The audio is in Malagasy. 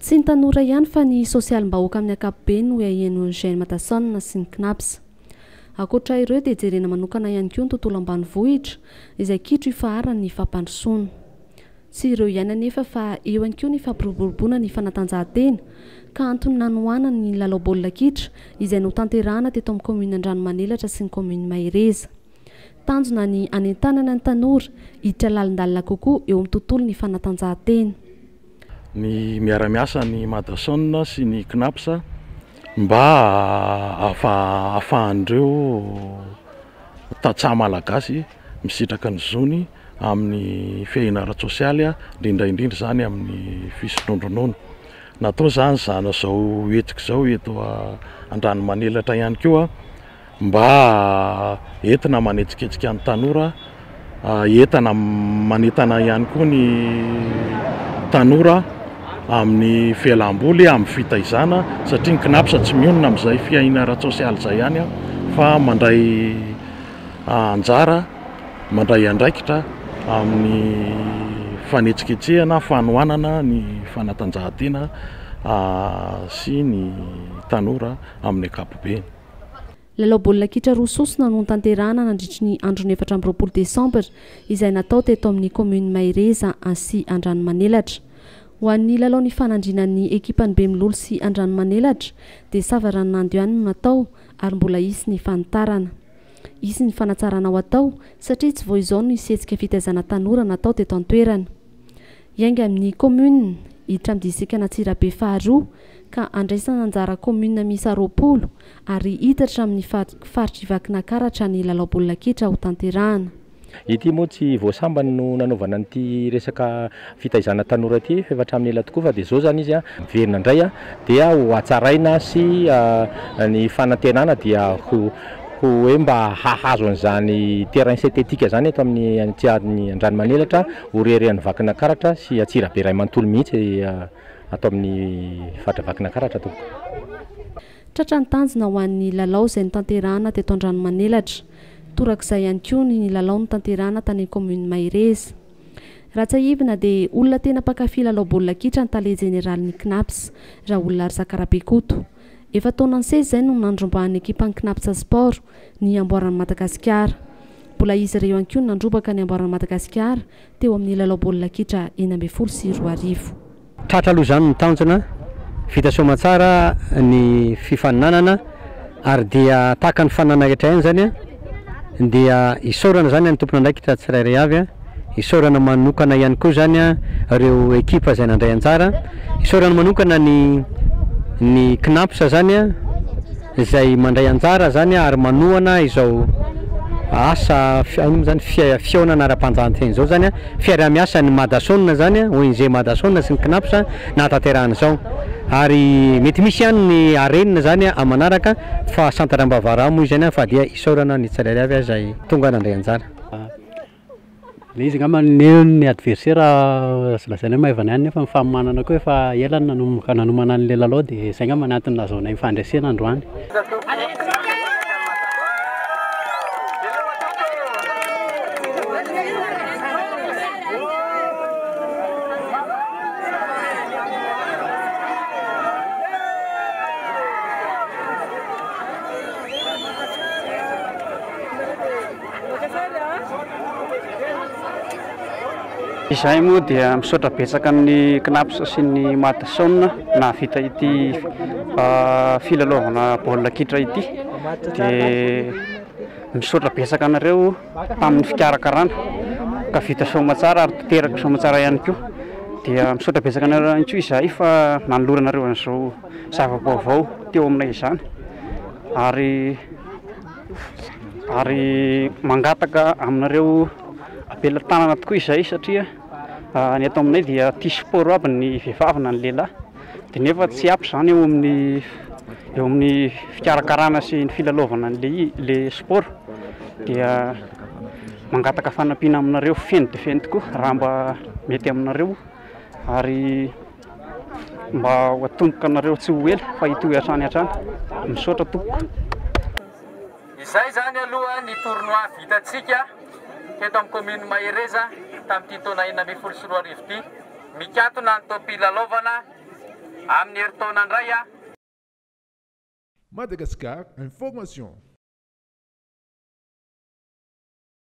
Tsy ny tanora ihany fa ny sosialim-bahoaka amin'ny ankapobeny no iahian'ny Gen Matason sy ny Cnaps. Ankoatra ireo dia jerena manokana ihany koa ny tontolo ambanivohitra izay kitro ifaharan'ny fampandrosoana. Tsy ireo ihany anefa fa eo ihany koa ny fampiroboroboana ny fanatanjahantena ka antony nanohanany ny lalao baolina kitra izay notanterahana teto amin'ny kaominina Andranomanelatra sy ny kaominina Mahereza. Tanjona ny hanentanana ny tanora hiditra lalindalina kokoa eo amin'ny tontolon'ny fanatanjahantena. ny miara-miasa ny Madason sy ny Cnaps mba hahafahan'ireo tantsaha malagasy misitraka ny zony amin'ny fiahiana ara-tsosialy, indrindra indrindra izany amin'ny fisondrondronoana. Natao izany izao hetsika izao eto Andranomanelatra ihany koa Mba entina manetsiketsika ny tanora, entana manentana ihany koa ny tanora amin'ny fialam-boly, amin'ny fitaizana satria ny Cnaps tsy mionona amin'izay fiahiana ara-tsosialy izay ihany fa mandray anjara, mandray andraikitra amin'ny fanetsiketsehana, fanohanana ny fanatanjahantena sy ny tanora amin'ny ankapobeny. Lalao baolina kitra roa sosona no notanterahana nandritry ny andron'ny efatra amby roapolo desambra izay natao teto amin'ny kaominina Mahereza sy Andranomanelatra. Ho an'ny lalao nifanandriana ny ekipan'ny Bemilolo sy Andranomanelatra dia sava ranonando ihany no natao ary mbola hisy ny fanitarana. Hisy ny fanatsarana ho atao satria tsy vao izao no hisy hetsika fitaizana tanora natao teto an-toerana. Hiainga amin'ny kaominina hiditra amin'ny distrikan'Antsirabe faharoa ka handraisana anjara kaominina miisa roapolo ary hiditra amin'ny faritr'i Vakinakaratra ny lalao baolina kitra ho tanterahana. Ity moa tsy vao sambany no nanaovana an'ity resaka fitaizana tanora ity f'efa hatramin'ny ela tokoa fa dia izao izany izy miverina indray dia ho hatsaraina sy ny fanantenana dia ho hoe mba hahazo an'izany terrain synthétique zany eto amin'ny aty amin'ny Andranomanelatra, Oriere any Vakinakaratra sy Antsirabe iray manontolo mihitsy ato amin'ny faritra Vakinakaratra tompoko. Tratra ny tanjona ho an'ny lalao izay notanterahana teto Andranomanelatra. Torak'izay ihany koa ny lalao notanterahana tany kaominina Mahereza. Raha tsiahivina dia olona tena mpankafy lalao baolina kitra ny tale jeneralin'ny Cnaps, Raolona Razakarabekoto. Efa taona nisesy izay no nandrombahan'ny ekipan'ny Cnaps Sport ny amboaran'i Madagasikara. Mbola izy ireo ihany koa no nandrobaka ny amboaran'i Madagasikara teo amin'ny lalao baolina kitra enina ambin'ny folo sy roa arivo. Tratra aloha izany ny tanjona, vita soamantsara ny fifaninanana ary dia tahaka ny faninanana rehetra ihany izany dia isaorana izany ny tompon'andraikitra tsirairay avy. Isaorana manokana ihany koa izany ireo ekipa izay nandray anjara. Isaorana manokana ny ny Cnaps izany izay mandray anjara izany ary manohana izao asa inona moa izany fihaonana ara-panjahanteny izao izany, fiaraha-miasan'ny Madason izany, ONG Madason sy ny Cnaps no nahatanterahana izao. Ary mety misy ihany ny harenina izany aman'araka fa Centre Ambavarà moa izany fa dia isaorana ny tsirairay avy izay tonga nandray anjara. Ilay izy angamba neo ny adversaire azo lazaina hoe maivana ihany nefa ny fanomanana koa efa ela no nanomboka nanomana an'ilay lalao dia izay angamba no antony nahazoanay ny fandresena androany. Izahay moa dia misaotra betsaka ny Cnaps sy ny Madson nahavita ity filalaovana baolina kitra ity dia misaotra betsaka anareo tamin'ny fikarakarana ka vita soamatsara ary teraka soamatsara ihany koa dia misaotra betsaka anareo ihany koa izahay fa nanoloranareo an'izao zava-baovao teo aminay izany ary ary mangataka aminareo am-pelatanana tokoa izahay satria ny eto aminay dia tia sport aby ny vehivavy na ny lehilahy dia nefa tsy ampy izany eo amin'ny eo amin'ny fikarakarana sy ny filalaovana an'ilay i- ilay sport dia mangataka fanampiana aminareo feno dia feno tokoa raha mba mety aminareo ary Mba ho atomboka anareo tsy ho ela fa hitohy hatrany hatrany. Misaotra tompoko. Izay izany aloha ny tournoi vitantsika teto amin'ny commune Mahereza tamin'ity taona enina ambin'ny folo sy roa arivo ity. Mikatona ny topi lalaovana amin'ny herintaona indray. Madagascar Information.